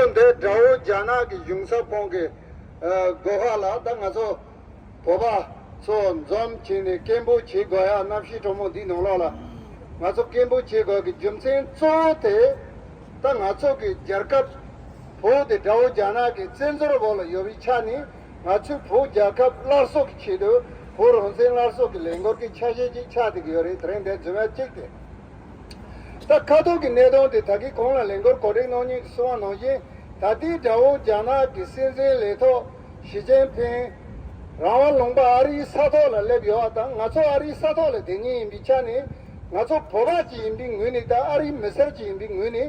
ཚོ་འདི་དགྲ་བོ་རྒྱ་ནག་གི་གཞུང་ས་ཁོངས་ཀྱི་སྒོ་ཁ་ལ་ད་ང་ཚོ་བོད་པ་ཚོ་འཛོམས་བྱས་ནས་སྐད་འབོད་བྱེད་དགོས་ཡ་གནམ་གཤིས་དྲོ་མོ་འདིའི་ནང་ལོགས་ལ་ང་ཚོ་སྐད་འབོད་བྱེད་དགོས་ཀྱི་རྒྱུ་མཚན་གཙོ་བོ་དེ་ད་ང་ཚོ་གི་རྒྱལ་ཁབ་བོད་དེ་དགྲ་བོ་རྒྱ་ནག་གི་བཙན་འཛོལ་འོག་ལ་ཡོད་པའི་ཆ་ནས་ང་ཚོའི་བོད་རྒྱལ་ཁབ་སླར་གསོ་གི་ཆེད་དུ་བོད་རང་བཙན་སླར་གསོ་གི་ལས་འགོར་གྱི་ཆ་ཤས་ཅིག་ཆགས་བསྡད་ཀྱི་ཡོད་རེད་དེ་རིང་འདི་རྫུན་མ་གཅིག་དེ། ས་ཁ་ཐོར་གྱི་གནས་སྟངས་དེ་ད་གིན་གོང་ལ་ལེན་གོར་གོ་སྒྲིག་གནང་ཉིན་གྱི་སྲི་བ་གནང་རྐྱེན་ད་ལྟའི་དགྲ་བོ་རྒྱ་ནག་གི་སྲིད་འཛིན་ལས་ཐོག་ཞི་ཅེན་ཕེན་རང་དབང་ལུང་པ་ཨ་རིའི་ས་ཐོག་ལ་སླེབས་ཡོད་བ་དང་ང་ཚོ་ཨ་རིའི་ས་ཐོག་ལ་དེ་ཉིད་ཡིན་པའི་ཆ་ནས་ང་ཚོ་བོད་པ་གཅིག་ཡིན་པའི་ངོས་ནས་དང་ཨ་རིའི་མི་སེར་གཅིག་ཡིན་པའི་ངོས་ནས་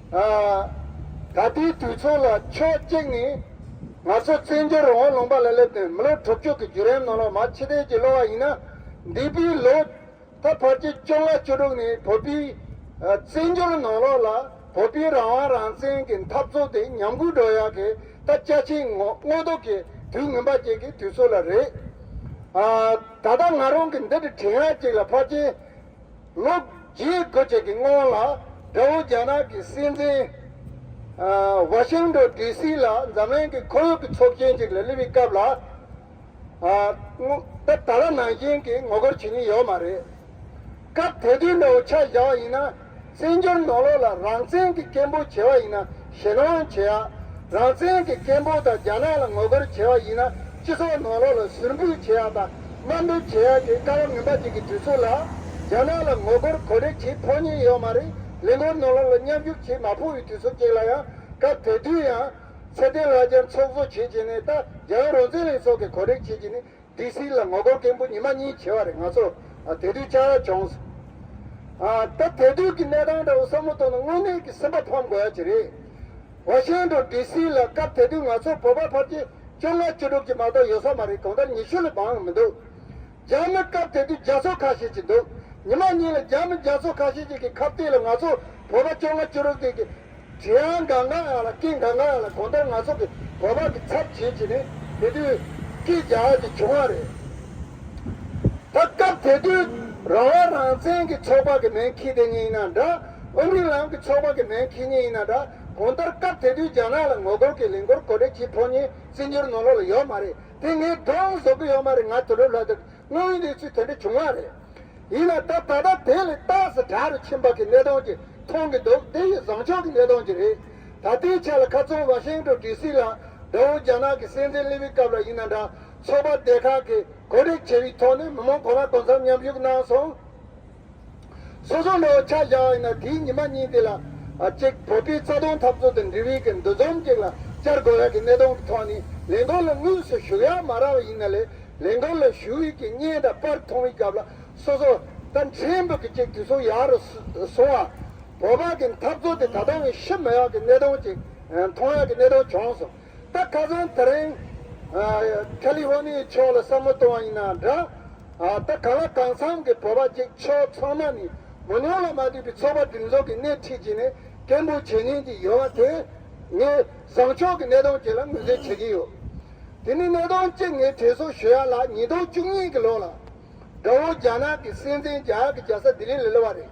ད་ལྟའི་དུས་མཚུངས་ལ་ཕྱོགས་གཅིག་ནས་ང་ཚོ་བཙན་བྱོལ་འོག་ལུང་པ་ལ་སླེབས་དོན་མི་ལོ་དྲུག་ཅུ་གི་བརྒྱུད་རིམ་ནང་ལོ་མ་ཕྱི་དལ་གྱིས་སློ་བ་ཡིན་ན་འདས་པའི་ལོ་ད་བར་གྱི་བཅོ་ལྔ་བཅུ་དྲུག་ནས་བོད་པའི་བཙན་བྱོལ་ནང་ལོགས་ལ་བོད་པའི་རང་དབང་རང་བཙན་གྱི་འཐབ་རྩོད་དེ་ཉམས་རྒུད་འགྲོ་ཡག་གི་ད་བཅའ་ཆེན་དངོས་སྡུག་གི་དུས་ངན་པ་ཅིག་གི་དུས་ཚོད་ལ་རེད། ད་ལྟ་ང་རང་གིས་འདི་འདྲའི་དྲི་ངར་ཅིག་ལ་ཕར་ཕྱིན། ལོ་རྒྱས་དགུ་བཅས་ཀྱི་སྔོན་ལ་ཀྲའོ་རྒྱ་ནག་གི་སྲིད་འཛིན Washington DC ལ་འཛམ་གླིང་གི་ཁོར་ཡུག་གི་ཚོགས་ཆེན་ཅིག་ལ་བསླེབས་པའི་སྐབས་ལ་ད་ད་ལ་ནང་བཞིན་གྱི་ངོ་རྒོལ་བྱེད་ཀྱིན་ཡོད་མ་རེད། སྐབས་དེ་དུས་ནའོ་ཆ་བཞག་ཡིན་ན་བཙན་བྱོལ་ནང་ལོགས་ལ་རང་བཙན་གྱི་སྐད་འབོད་བྱས་པ་ཡིན་ན། ཞེ་སྣང་བྱེད་ཡ། རང་བཙན་གྱི་སྐད་འབོད་དང་རྒྱ་ནག་ལ་ངོ་རྒོལ་བྱེད་པ་ཡིན་ན་སྤྱི་ཚོགས་ནང་ལོགས་ལ་ཟུར་འབུད་བྱེད་ཡ་དང་དམའ་འབེབས་བྱེད་ཡ་དེ་དཀའ་བ་ངན་པ་ཅིག་གི་དུས་ཚོད་ལ། རྒྱ་ནག་ལ་ངོ་རྒོལ་གོ་སྒྲིག་བྱེད་ཕོག་ཉེན་ཡོད་མ་རེད་ལས་འགོ་ནང་ལོགས་ལ་མཉམ་རྒྱུག་བྱེད་མ་ཕོག་ཡོད་དུས་ཚོད་ཅིག་ལ་ཡང་སྐབས་དེ་དུས་ཡང། ཚེ་བརྟན་ལགས་རྒྱ་མཚོ་གཙོ་བྱེད་ཀྱི་ནས་ད་རྒྱ་ནག་རང་བཙན་ལྷན་ཚོགས་ཀྱི་གོ་སྒྲིག་བྱེད་ཀྱི་ནས་དེ་སྲིད་ལ་ངོ་རྒོལ་མཁན་པོ་ཉི་མ་གཉིས་བྱེ་བ་རེ་ང་ཚོ་དེ་དུས་བཅར་བྱུང། ད་དེ་དུས་ཀྱི་གནས་སྟངས་འདྲ་བོ་བསམ་བློ་གཏོང་ན་དངོས་གནས་ཀྱི་སེམས་པ་ཕམ་དགོས་ཡ་གྱི་རེད། བ་ཤན་དུ་དེ་སྲིད་ལ་སྐབས་དེ་དུས་ང་ཚོ་བོད་པ་ཕར་གྱི་བཅོ་ལྔ་བཅུ་དྲུག་གྱི་མ་གཏོགས་ཡོད་ས་མ་རེད་གང་ལྟར་ཉི་ཤུ་ལས་འབངས་ཡང་མི་འདུག་རྒྱ་མི་སྐབས་དེ་དུས་རྒྱ་མཚོ་ཁ་ཤས་ཅིག་འདུག་ཉི་མ་གཉིས་ལ་རྒྱ་མི་རྒྱ་མཚོ་ཁ་ཤས་ཅིག་གི་ཁ་གཏད་ལ་ང་ཚོ་བོད་པ་བཅོ་ལྔ་བཅུ་དྲུག་དེ་གི་གཞན་ཡང་འགའ་འགའ་ཡང་ལ་སྐད་འགའ་འགའ་ཡང་ལ་གོ་མདོར་ང་ཚོ་གི་བོད་པ་གི་ཚབ་བྱེད་ཀྱི་ནི་དེ་དུས་སྐད་རྒྱ་གི་བྱུང་བ་རེད། ད་སྐབས་དེ་དུས་རང་བ་རང་བཙན་གི་ཚོགས་པ་གི་མེན་ཁི་དེ་གཉིས་ཡིན་ན་འདྲ་ཨོ་མི་ལམ་གི་ཚོགས་པ་གི་མེན་ཁི་གཉིས་ཡིན་ན་འདྲ་གོ་མདོར་སྐབས་དེ་དུས་རྒྱ་ནག་ལ་ངོ་རྒོལ་གི་ལིང་གོར་གོ་བྲེ་གྱི་ཕོ་གཉིས་སྲིད་འགྱུར་ནོར་ལོག་ལ་ཡོད་མ་རེད་དེ་ངས་དྲོངས་བཟོ་གི་ཡོད་མ་རེད་ང་དུ་ལུ་ལྷ་དུ། དངོས་ཡོད་གནས་ཚུལ་དེ་འདྲ་བྱུང་བ་རེད། ཡིན་ན་ད་ད་ལྟ་དེ་ལས་ཏག་སི་དྲག་རུ་ཕྱིན་པ་གི་གནས་སྟངས་ཀྱི་མཐོང་གི་འདུག་དེ་ཡི་བཟང་ཕྱོགས་ཀྱི་གནས་སྟངས་ཀྱི་རེད། ད་ལྟའི་ཆ་ལ་ཁ་ཚོན་བ་ཤེང་ཀྲོ་ཀྲི་སི་ལ་དགྲ་བོ་རྒྱ་ནག་གི་སྲིད་འཛིན་ལི་བི་སྐབས་ལ་ཡིན་ན་འདྲ་ཚོགས་པ་སྡེ་ཁག་གི་གོ་སྒྲིག་བྱས་པའི་ཐོག་ནས་མི་མང་གོ་ལ་དོ་མཚམས་མཉམ་ཞུགས་གནང་སོང། སོ་སོ་ལོ་བྱ་བཞག་ཡིན་ན་དེའི་ཉི་མ་གཉིས་དེ་ལ། གཅིག་བོད་པའི་རྩ་དོན་འཐབ་རྩོད་དང་འབྲེལ་བའི་གི་འདུ་འཛོམས་གཅིག་ལ་བཅར་དགོས་ཡག་གི་གནད་དོན་གི་ཐོག་ནས་ལས་འགུལ་ལ་དངོས་སུ་ཞུགས་ཡག་མ་རག་ཡིན་ན་ལས་ལས་འགུལ་ལ་ཞུགས་ཡུལ་གྱི་བརྙན་དང་པར་མཐོང་བའི་སྐབས་ལ་སོ་སོ་ད་མཁྲེན་པོ་གི་ཅིག་དུས་ཚོད་ཡག་རུ་སོང་བ། བོད་པ་གི་འཐབ་རྩོད་དེ་ད་དུང་ཡང་ཤི་མི་ཡག་གི་གནད་དོན་ཅིག་མཐོང་ཡག་གི་གནད་དོན་བྱུང་སོང། ད་ཁ་སང་ད་རིང། ཁ་ལི་ཧོ་ནི་ཡའི་ཕྱོགས་ལ་བསམ་བློ་གཏོང་བ་ཡིན་ན་འདྲ། ད་ག་ལ་གང་འཚམ་གྱི་བོད་པ་གཅིག་ཆོག་ཚང་མ་ནི་མོ་ཉོག་ལ་མ་བསྡུས་པའི་ཚོགས་པ་སྒྲིག་འཛུགས་ཀྱི་སྣེ་ཁྲིད་ཀྱིས་ནི་སྐད་འབོད་བྱེད་ཉན་གྱི་ཡོད་བ་དེ། ངས་བཟང་ཕྱོགས་ཀྱི་གནད་དོན་གཅིག་ལ་ངོས་འཛིན་བྱེད་ཀྱི་ཡོད། དེ་ནི་གནད་དོན་གཅིག་ངས་དྲིས་སོ་ཞུ་ཡ་ལ་ཉིས་སྟོང་བཅུ་གཉིས་ཀྱི་ལོ་ལ། དགྲ་བོ་རྒྱ་ནག་གི་སྲིད་འཛིན་རྒྱ་གར་གྱི་རྒྱལ་ས་ལྡི་ལི་ལ་སླེབས་བ་རེད།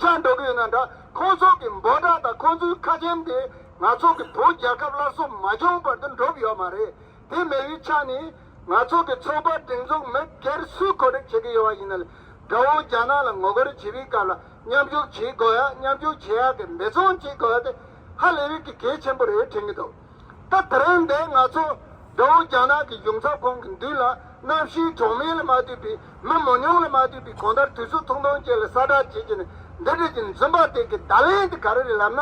ཤ་འདོག་གི་ཡོད་ན་འདྲ་ཁོང་ཚོ་གི་འབོ་དག་དང་ཁོང་ཚོའི་ཁ་ཆེམས་དེ་ང་ཚོ་གི་བོད་རྒྱལ་ཁབ་སླར་གསོ་མ་བྱུང་བར་དུ་འགྲུབ་ཡོད་མ་རེད་དེ་མེད་བའི་ཆ་ནས་ང་ཚོ་གི་ཚོགས་པ་སྒྲིག་འཛུགས་མི་སྒེར་སུས་གོ་སྒྲིག་བྱེད་གི་ཡོད་བ་ཡིན་ན་ལས་དགྲ་བོ་རྒྱ་ནག་ལ་ངོ་རྒོལ་བྱེད་པའི་སྐབས་ལ་མཉམ་རྒྱུག་བྱེད་དགོས་ཡ་མཉམ་རྒྱུག་བྱེད་ཡ་གི་འབད་བརྩོན་བྱེད་དགོས་ཡ་དེ་ཧ་ལས་བའི་གི་གལ་ཆེན་པོ་རེད་དྲན་གི་འདུག། ད་དེ་རིང་འདིར་ང་ཚོ་རྒྱ་བོད་རྒྱ་ནག་གི་གཞུང་ཚབ་ཁང་གི་མདུན་ལ་གནམ་གཤིས་གྲོག་མེད་ལ་མ་ལྟོས་པའི་མི་མང་ཉུང་ལ་མ་ལྟོས་པའི་གང་ལྟར་དུས་ཚོད་ཐུང་ཐུང་ཅན་ལ་གསལ་བསྒྲགས་བྱེད་ཀྱི་ནི་འདི་འདྲའི་གྱི་འཛུམ་པ་དེ་གི་བརྡ་ལན་དེ་ག་རེ་རེད་ལབ་ན།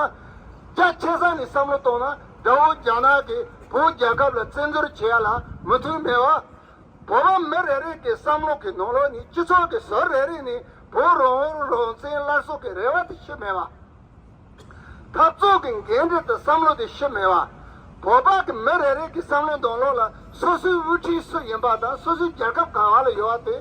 རྒྱ་ཆེ་ས་ནས་བསམ་བློ་བཏང་ན་དགྲ་བོ་རྒྱ་ནག་གིས་བོད་རྒྱལ་ཁབ་ལ་བཙན་འཛུལ་བྱེད་ཡ་ལ་མུ་མཐུད་མེད་བ། བོད་པ་མི་རེ་རེ་གི་བསམ་བློ་གི་ནང་ལོགས་ནས་སྤྱི་ཚོགས་གི་ཟུར་རེ་རེ་ནས་བོད་རང་དབང་རང་བཙན་སླར་གསོ་གི་རེ་བ་དེ་ཤི་མེད་བ། འཐབ་རྩོད་ཀྱི་འགན་འཁྲི་དང་བསམ་བློ་དེ་ཤི་མེད་པ། བོད་པ་གི་མི་རེ་རེ་གི་བསམ་བློའི་འདོང་ལོག་ལ་སོ་སོའི་དབུ་ཁྲིད་སུ་ཡིན་པ་དང་སོ་སོའི་རྒྱལ་ཁབ་གང་བ་ལ་ཡོད་བ་དེ་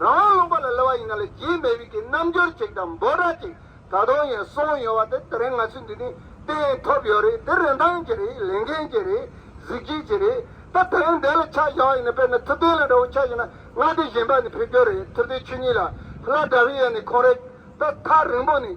རང་དབང་ལུང་པ་ལ་ལི་བ་ཡིན་ན་ལ་རྒྱའི་མེ་དབུས་ཀྱི་རྣམ་འགྱུར་ཅིག་དང་འབོད་སྒྲ་ཅིག་ད་དུང་ཡང་གསུང་ཡོད་བ་དེ་དེ་རིང་ང་ཚོས་འདི་ནས་བསྟན་ཐུབ་ཡོད་རེད་དེ་རིན་ཐང་གྱི་རེད་ལས་འགན་གྱི་རེད་གཟིགས་བྱེད་ཀྱི་རེད་ད་དེ་རིང་འདི་ལ་ཆ་བཞག་ཡིན་ན་དཔེར་ན་ཐུབ་བསྟན་ལ་འདྲ་བོ་ཆ་བཞག་ན་ང་འདི་བཞིན་པ་ནས་ཕེབས་རྒྱུ་རེད་ཐུབ་བསྟན་ཆོས་ཉིད་ལ་ལ་འདྲ་བའི་ཡ་ནས་ཁོང་རེད་ད་ཐག་རིང་པོ་ནས།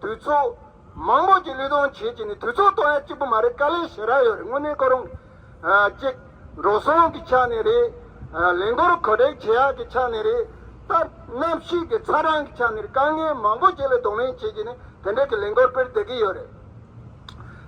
དུས་ཚོད། མང་པོ་ཀྱི་ལུས་སྟོང་བྱེད་ཀྱི་ནི་དུས་ཚོད་སྟོང་ཡ་གཅིག་པོ་མ་རེད་དཀའ་ལས་བྱེད་རག་ཡོད་རེད་དངོས་གནས་ཁོ་རང་གཅིག། འགྲོ་སོང་གི་ཆ་ནས་རེད། ལས་འགོར་གོ་སྒྲིག་བྱེད་ཡག་གི་ཆ་ནས་རེད། སྟབས། གནམ་གཤིས་ཀྱི་ཚ་གྲང་གི་ཆ་ནས་རེད་དཀའ་ངལ་མང་པོ་ཀྱི་ལས་གདོང་ལེན་བྱེད་ཀྱི་ནི་དེ་འདྲ་གི་ལས་འགོར་སྤེལ་བསྡད་ཀྱི་ཡོད་རེད།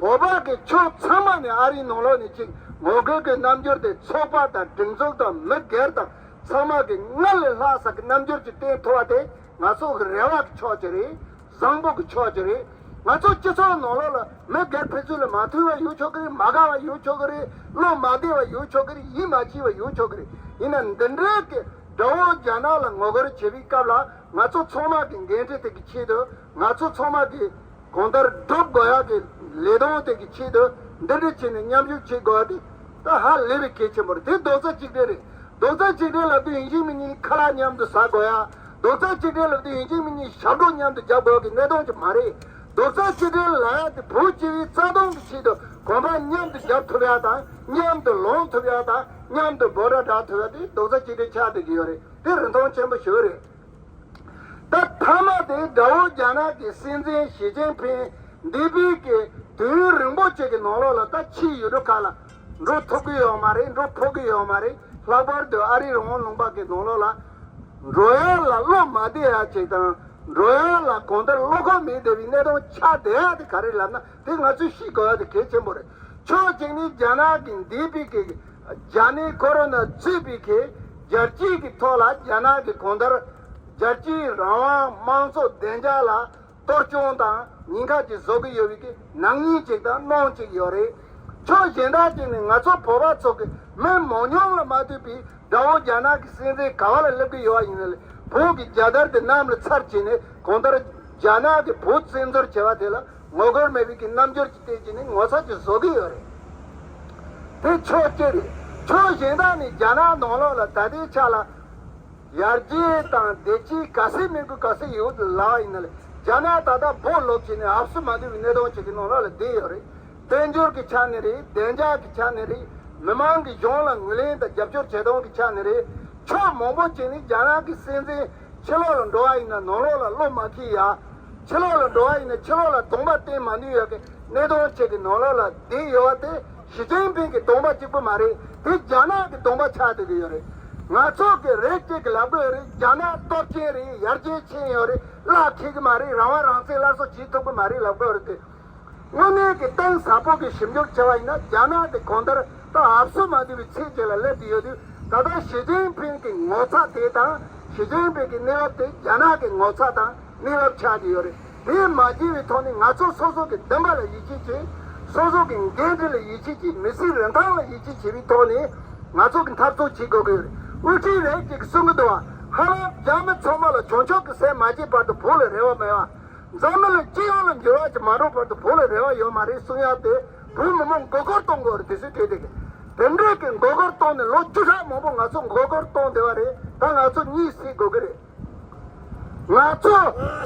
བོད་འབངས་ཀྱི་ཕྱོགས་ཚང་མ་ནས་ཨ་རིའི་ནང་ལོགས་ནས་ཅིག་ངོ་རྒོལ་གྱི་རྣམ་འགྱུར་དེ་ཚོགས་པ་དང་སྒྲིག་འཛུགས་དང་མི་སྒེར་དང་ཚང་མ་གི་སྔར་ལས་ལྷག་ས་གི་རྣམ་འགྱུར་གྱི་སྟེང་མཐོ་བ་དེ་ང་ཚོ་གི་རེ་བ་གི་ཕྱོགས་ཀྱི་རེད་བཟང་པོ་གི་ཕྱོགས་ཀྱི་རེད་ང་ཚོ་སྤྱི་ཚོགས་ནང་ལོགས་ལ་མི་སྒེར་ཕན་ཚུན་ལ་མ་མཐུན་བ་ཡོད་ཆོག་གི་རེད་མ་དགའ་བ་ཡོད་ཆོག་གི་རེད་བློ་མ་བདེ་བ་ཡོད་ཆོག་གི་རེད་ཡིད་མ་སྐྱིད་བ་ཡོད་ཆོག་གི་རེད་ཡིན་ན་འདི་འདྲའི་གི་དགྲ་བོ་རྒྱ་ནག་ལ་ངོ་རྒོལ་བྱེད་པའི་སྐབས་ལ་ང་ཚོ་ཚང་མ་གི་འགན་འཁྲི་དེ་གི་ཆེད་དུ་ང་ཚོ་ཚང་མ་གིས་གང་ལྟར་སྒྲུབ་དགོས་ཡག་གི་ལས་དོན་དེ་གི་ཆེད་དུ་འདི་འདྲའི་ཆེད་ནས་མཉམ་ཞུགས་བྱེད་དགོས་པ་དེ་ད་ཧ་ལས་པའི་གལ་ཆེན་པོ་རེད་དེ་རྡོག་རྩ་གཅིག་སྒྲིལ་རེད་རྡོག་རྩ་གཅིག་སྒྲིལ་ལབ་དུས་ཡིན་གཅིག་མིན་གཉིས་ཁ་ལག་མཉམ་དུ་ཟ་དགོས་ཡག་རྡོག་རྩ་གཅིག་སྒྲིལ་ལབ་དུས་ཡིན་གཅིག་མིན་གཉིས་ཞབས་བྲོ་མཉམ་དུ་རྒྱབ་དགོས་ཡག་གི་གནད་དོན་གཅིག་མ་རེད་རྡོག་རྩ་གཅིག་སྒྲིལ་ལ་ཡག་དེ་བོད་སྤྱི་བའི་རྩ་དོན་གི་ཆེད་དུ་གོམ་པ་མཉམ་དུ་རྒྱབ་ཐུབ་ཡག་དང་མཉམ་དུ་ལོངས་ཐུབ་ཡག་དང་མཉམ་དུ་འབོད་སྒྲ་བསྒྲག་ཐུབ་ཡག་དེ་རྡོག་རྩ་གཅིག་སྒྲིལ་ཆགས་ཐུབ་ཀྱི་ཡོད་རེད་དེ་རིན་ཐང་ཆེན་པོ་ཞིག་རེད། ད་ཐ་མ་དེ་དགྲ་བོ་རྒྱ་ནག་གི་སྲིད་འཛིན་ཞི་ཅིན་ཕིན་འདས་པའི་གི་དུས་ཡུན་རིང་པོ་ཅིག་གི་ནང་ལོགས་ལ་ད་ཕྱིའི་ཡུལ་གྲུ་ཁག་ལ་འགྲོ་ཐུབ་གི་ཡོད་མ་རེད་འགྲོ་ཕོག་གི་ཡོད་མ་རེད་ལྷག་པར་དུ་ཨ་རིའི་རང་དབང་ལུང་པ་གི་ནང་ལོགས་ལ་འགྲོ་ཡ་ལ་བློ་མ་བདེ་ཡ་ཅིག་དང་འགྲོ་ཡ་ལ་གང་ལྟར་བློ་ཁོག་མི་བདེ་བའི་གནས་སྟངས་ཆགས་བསྡད་ཡ་དེ་ག་རེ་ལབ་ན་དེ་ང་ཚོས་ཤེས་དགོས་པ་དེ་གལ་ཆེན་པོ་རེད། ཕྱོགས་གཅིག་ནི་རྒྱ་ནག་གི་འདས་པའི་གེགས། རྒྱ་ནད་ཁོ་རོ་ན་གཙོས་པའི་གེགས། རྒྱལ་སྤྱིའི་གི་ཐོག་ལ་རྒྱ་ནག་གི་གོང་ལྟར། རྒྱལ་སྤྱིའི་རང་དབང་དམངས་གཙོ་བདེ་འཇགས་ལ་གཏོར་སྐྱོན་དང་ཉེན་ཁ་ཅིག་བཟོ་གི་ཡོད་པའི་གེགས་ནག་ཉེས་ཅིག་དང་གནོང་ཅིག་ཡོད་རེད། ཕྱོགས་གཞན་དག་ཅིག་ནི་ང་ཚོ་བོད་པ་ཚོ་གི་མི་མང་ཉུང་ལ་མ་ལྟོས་པའི་དགྲ་བོ་རྒྱ་ནག་གི་སྲིད་འཛིན་ག་བ་ལ་སླེབས་གི་ཡོད་པ་ཡིན་ནི་ལས་བོད་ཀྱི་རྒྱལ་དར་དེ་གནམ་ལ་ཚར་བྱས་ནས་གོང་ལྟར་རྒྱ་ནག་གི་བོད་བཙན་འཛུལ་བྱས་པ་དེ་ལ། ངོ་རྒོལ་མེད་རིགས་ཀྱི་རྣམ་འགྱུར་གྱི་སྟེང་ཀྱི་ནི་ངོ་ཚ་གྱི་བཟོ་གི་ཡོད་རེད། དེ་ཕྱོགས་གཅིག་རེད། ཕྱོགས་གཞན་དག་ནི་རྒྱ་ནག་ནང་ལོགས་ལ་ད་ལྟའི་ཆ་ལ། ཡར་རྒྱས་དང་བདེ་སྐྱིད་ག་སེ་མིན་གུ་ག་སེ་ཡོད་ལ་ཡིན་ན་ལ་རྒྱ་ནག་ད་ལྟ་བོད་ལོགས་ཀྱི་ནི་ཨབ་སུ་མ་འདུལ་བའི་གནས་སྟངས་ཅིག་གི་ནང་ལོགས་ལ་བསྡད་ཡོད་རེད། དཔལ་འབྱོར་གྱི་ཆ་ནས་རེད་བདེ་འཇགས་ཀྱི་ཆ་ནས་རེད་མི་མང་གི་གཞུང་ལ་ངོས་ལེན་དང་རྒྱབ་སྐྱོར་བྱེད་སྟངས་ཀྱི་ཆ་ནས་རེད། ཕྱོགས་མང་པོ་ཅིག་ནི་རྒྱ་ནག་གི་སྲིད་འཛིན། ཕྱི་ལོགས་ལ་འགྲོ་བ་ཡིན་ན་ནང་ལོགས་ལ་བློ་མ་ཁེལ་ཡ། ཕྱི་ལོགས་ལ་འགྲོ་བ་ཡིན་ན་ཕྱི་ལོགས་ལ་སྡོམ་པ་བསྟན་མ་ནུས་ཡ་གི་གནས་སྟོང་བྱེད་ཀྱི་ནང་ལོགས་ལ་བསྡད་ཡོད་བ་དེ་ཞི་ཅིན་ཕིན་གྱི་སྡོམ་པ་གཅིག་པུ་མ་རེད་དེ་རྒྱ་ནག་གི་སྡོམ་པ་ཆགས་སྡོད་ཀྱི་ཡོད་རེད། ང་ཚོ་གི་རེ་སྐྱེད་ཀྱི་ལབ་དགོས་རེད་རྒྱ་ནག་སྟོབས་ཆེན་རེད་ཡར་རྒྱས་ཕྱིན་ཡོད་རེད་གླགས་འཁེལ་གྱི་མ་རེད་རང་དབང་རང་བཙན་སླར་གསོ་བྱེད་ཐུབ་ཀྱི་མ་རེད་ལབ་དགོས་རེད་དེ། དངོས་གནས་ཀྱི་གཏིང་ཟབ་པོ་གི་ཞིབ་འཇུག་བྱ་བ་ཡིན་ན་རྒྱ་ནག་དེ་གོང་ལྟར་ད་ཧབ་སུ་མ་འདུས་པའི་ཚད་ཅིག་ལ་སླེབས་ཀྱི་ཡོད་དུས་ད་ལྟ་ཞི་ཅིན་ཕིན་གྱི་ངོ་ཚ་དེ་དང་ཞི་ཅིན་ཕིན་གྱི་གནས་བབ་དེ་རྒྱ་ནག་གི་ངོ་ཚ་དང་གནས་བབ་ཆགས་ཀྱི་ཡོད་རེད་དེས་མ་བགྱིས་བའི་ཐོག་ནས་ང་ཚོ་སོ་སོ་གི་འདུན་པ་ལ་ཡིད་ཆེས་ཀྱིས། སོ་སོ་གི་འགན་འཁྲི་ལ་ཡིད་ཆེས་ཀྱིས་མི་སེར་རིན་ཐང་ལ་ཡིད་ཆེས་བྱེད་པའི་ཐོག་ནས་ང་ཚོ་གི་འཐབ་རྩོད་བྱེད་དགོས་ཀྱི་ཡོད་རེད་དབུ་ཁྲིད་རེད་ཅེས་གསུང་གི་འདུག་ཧ་ལམ་རྒྱ་མི་ཚང་མ་ལ་བྱང་ཕྱོགས་ཀྱི་ཟས་མ་བརྗེད་བར་དུ་བོད་ལ་རེ་བ་མེད་པ། འཛམ་གླིང་ལ་སྤྱི་ཡོངས་ལ་འགྱུར་བ་ཅི་མ་འགྲོ་བར་དུ་བོད་ལ་རེ་བ་ཡོད་མ་རེད་གསུང་ཡ་དེ་བོད་མི་མང་མགོ་སྐོར་གཏོང་དགོས་རེད་དེ་སུས་བྲིས་དེ་དེ་འདྲས་ཀྱི་མགོ་སྐོར་གཏོང་ནས་ལོ་བཅུ་ཕྲག་མང་པོ་ང་ཚོ་མགོ་སྐོར་གཏོང་བསྡད་པ་རེད་ད་ང་ཚོ་གཉིད་སད་དགོས་ཀྱི་རེད། ང་ཚོ་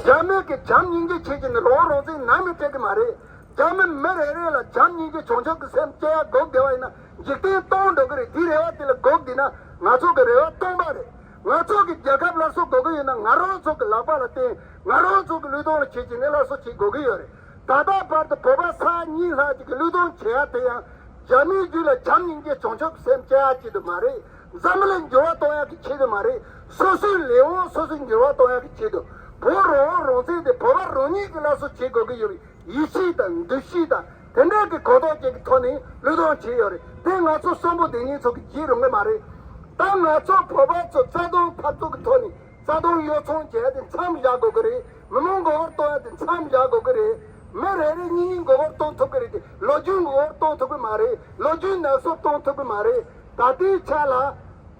རྒྱ་མི་གི་བྱམས་སྙིང་རྗེ་བྱེད་ཀྱི་ནི་རང་རང་བཙན་ནམ་ཡང་སྤྲད་ཀྱི་མ་རེད་རྒྱ་མི་མི་རེ་རེ་ལ་བྱམས་སྙིང་རྗེ་བྱུང་ཆོག་གི་སེམས་སྐྱེ་ཡ་དགོས་བསྡད་པ་ཡིན་ན་འཇིག་རྟེན་སྟོང་འགྲོ་ཀྱི་རེད་དེ་རེ་བ་དེ་ལ་དགོས་བསྡད་ན་ང་ཚོ་གི་རེ་བ་སྟོང་པ་རེད། ང་ཚོགས་ཀྱི་རྒྱལ་ཁབ་སླར་གསོ་དགོས་ཀྱི་ཡོད་ན་ང་རང་ཚོགས་ཀྱི་ལག་པ་ལ་བརྟེན་ང་རང་ཚོགས་ཀྱི་ལུས་སྟོང་ལ་བྱེད་ཀྱི་ནི་སླར་གསོ་བྱེད་དགོས་ཀྱི་ཡོད་རེད་ད་ལྟ་བར་དུ་བོད་པ་ས་ཡ་གཉིས་ལྷག་ཅིག་གི་ལུས་སྟོང་བྱེད་ཡག་དེ་ཡང་རྒྱ་མིའི་རྒྱུད་ལ་བྱམས་སྙིང་རྗེ་བྱང་ཆུབ་སེམས་བསྐྱེད་ཡག་ཅིག་དུ་མ་རེད་འཛམ་བུ་ལ་འགྱུར་བ་གཏོང་ཡག་གི་ཆེད་དུ་མ་རེད་སོ་སོའི་ལས་དབང་སོ་སོས་འགྱུར་བ་གཏོང་ཡག་གི་ཆེད་དུ་བོད་རང་དབང་རང་བཙན་དེ་བོད་པ་རང་ཉིད་ཀྱི་སླར་གསོ་བྱེད་དགོས་ཀྱི་ཡོད་པའི་ཡིད་ཆེས་དང་འདུ་ཤེས་དང། དེ་འདྲའི་གི་གོ་རྟོགས་ཅན་གི་ཐོག་ནས་ལུས་གཏོང་བྱས་ཡོད་རེད་དེ་ང་ཚོ་གསོན་པོ་བདེ་སྙིང་ཚོ་གི་བགྱིད་རུང་གི་མ་རེད་ད་ང་ཚོ་བོད་པ་ཚོ་རྩ་དོན་འཕར་ཚུག་གི་ཐོག་ནས་རྩ་དོན་གཡོ་ཚོང་བྱེད་ཡ་དེ་མཚམས་བཞག་དགོས་གི་རེད་མི་མང་མགོ་བོར་གཏོང་ཡ་དེ་མཚམས་བཞག་དགོས་གི་རེད་མི་རེ་རེ་གཉིས་གཉིས་མགོ་བོར་གཏོང་ཐུབ་གི་རེད་དེ་ལོ་རྒྱུས་མགོ་བོར་གཏོང་ཐུབ་གི་མ་རེད་ལོ་རྒྱུས་ནག་སོ་གཏོང་ཐུབ་གི་མ་རེད་ད་ལྟའི་ཆ་ལ།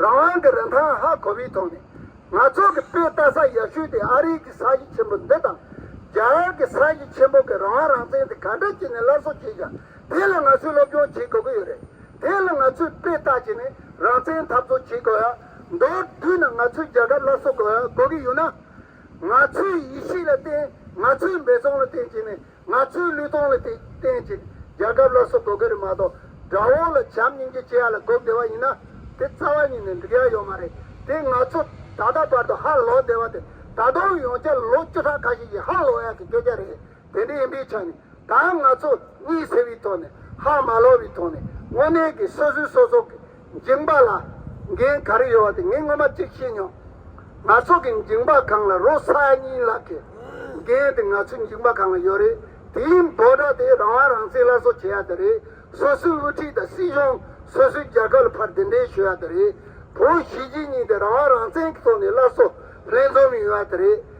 རང་དབང་གི་རིན་ཐང་ཧ་གོ་བའི་ཐོག་ནས། ང་ཚོ་གི་དཔེ་ལྟ་ས་ཡག་ཤོས་དེ་ཨ་རིའི་གི་ས་གཞི་ཆེན་པོ་འདི་དང། རྒྱ་གར་གི་ས་གཞི་ཆེན་པོ་གི་རང་དབང་རང་བཙན་དེ་ག་འདྲ་བྱས་ནས་སླར་གསོ་བྱས་ཀྱང་དེ་ལ་ང་ཚོས་སློབ་སྦྱོང་བྱེད་དགོས་ཀྱི་ཡོད་རེད། དེ་ལ་ང་ཚོས་དཔེ་ལྟ་བྱས་ནས་རང་བཙན་འཐབ་རྩོད་བྱེད་དགོས། མདོར་བསྡུས་ན་ང་ཚོས་རྒྱལ་ཁབ་སླར་གསོ་དགོས་གི་ཡོད་ན། ང་ཚོའི་ཡིད་ཆེས་ལ་བརྟེན་ང་ཚོའི་འབད་བརྩོན་ལ་བརྟེན་བྱས་ནས་ང་ཚོའི་ལུས་སྟོང་ལ་དེ་བསྟན་ཅིག་རྒྱལ་ཁབ་ལ་སོགས་དགོས་གི་རེད་མ་གཏོགས་དགྲ་བོ་ལ་བྱམས་སྙིང་རྗེ་སྐྱེ་ཡ་ལ་འགོག་བདེ་བ་ཡིན་ན་དེ་རྩ་བ་ཉིད་ནས་འགྲིག་ཡ་ཡོད་མ་རེད་དེ་ང་ཚོ་ད་ལྟ་བར་དུ་ཧ་ལོག་བདེ་བ་དེ་ད་དུང་ཡོང་འཆར་ལོ་བཅུ་ཕྲག་ཁ་ཤས་ཀྱི་ཧ་ལོག་ཡ་གི་སྐད་ཆ་རེད་དེ་འདྲ་ཡིན་པའི་ཆ་ནས་ད་ང་ཚོ་གཉིད་སད་བའི་ཐོག་ནས་ཧ་མ་ལོག་བའི་ཐོག་ནས་དངོས་གནས་ཀྱི་སོ་སོའི་སོ་སོ་གི། འགྱིང་བག་ལ་འགན་ག་རེ་ཡོད་བ་དེ་ངས་སྔོན་མ་གཅིག་ཤེས་མྱོང། ང་ཚོ་གི་འགྱིང་བག་གང་ལ་རོ་ས་ཨ་ཉིའི་ལག་གི་འགན་དེ་ང་ཚོའི་འགྱིང་བག་གང་ལ་ཡོད་རེད། དེའི་འབོད་སྒྲ་དེ་རང་དབང་རང་བཙན་སླར་གསོ་བྱེད་ཡ་དེ་རེད། སོ་སོའི་དབུ་ཁྲིད་དང་སྲིད་གཞུང་སོ་སོའི་རྒྱལ་ཁབ་ལ་ཕར་འདི་འདྲའི་ཞུ་ཡ་དེ་རེད། བོད་གཞིས་བྱེས་གཉིས་དེ་རང་དབང་རང་བཙན་གྱི་ཐོག་ནས་སླར་གསོ་ལྷན་འཛོམས་ཡོང་ཡ་དེ་རེད།